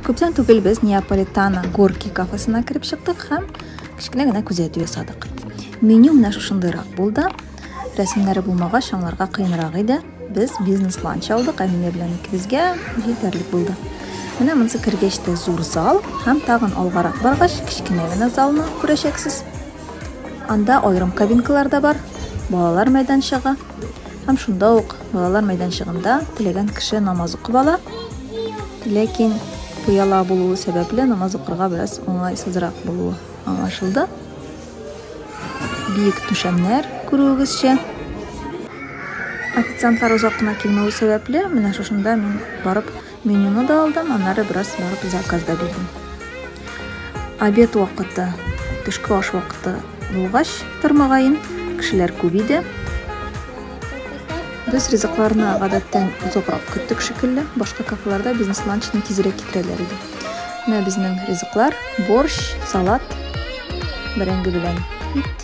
Күптән түгел без Неаполитана Горки кафесына кереп чыктык һәм кечкенә генә күзәтү ясадык. Меню менә шушындыйрак булды. Рәсемнәре булмагач, аңларга кыенрак иде. Без бизнес-ланч алдык, Әминә белән икебезгә җитәрлек булды. Менә монысы кергәч тә зур зал һәм тагын алгарак баргач, кечкенә генә залны күрәчәксез. Анда аерым кабинкалар да бар, балалар мәйданчыгы, Һәм шунда ук балалар мәйданчыгында теләгән кеше намаз укып ала. Ләкин пыяла булуы сәбәпле намаз укырга бераз уңайсызрак булуы аңлашылды. Биек түшәмнәр күрүегезчә. Официантлар озак кына килмәве сәбәпле, менә шушында мин барып Менюны да алдым, аннары бераз барып заказ да бирдем. Обед вакыты, төшке аш вакыты булгач, тормагаен, кешеләр күп иде. Без ризыкларны гадәттән озакрак көттек шикелле, башка кафеларда бизнес ланчны тизрәк китерәләр иде. Менә безнең ризыклар, борщ, салат, бәрәңге белән ит.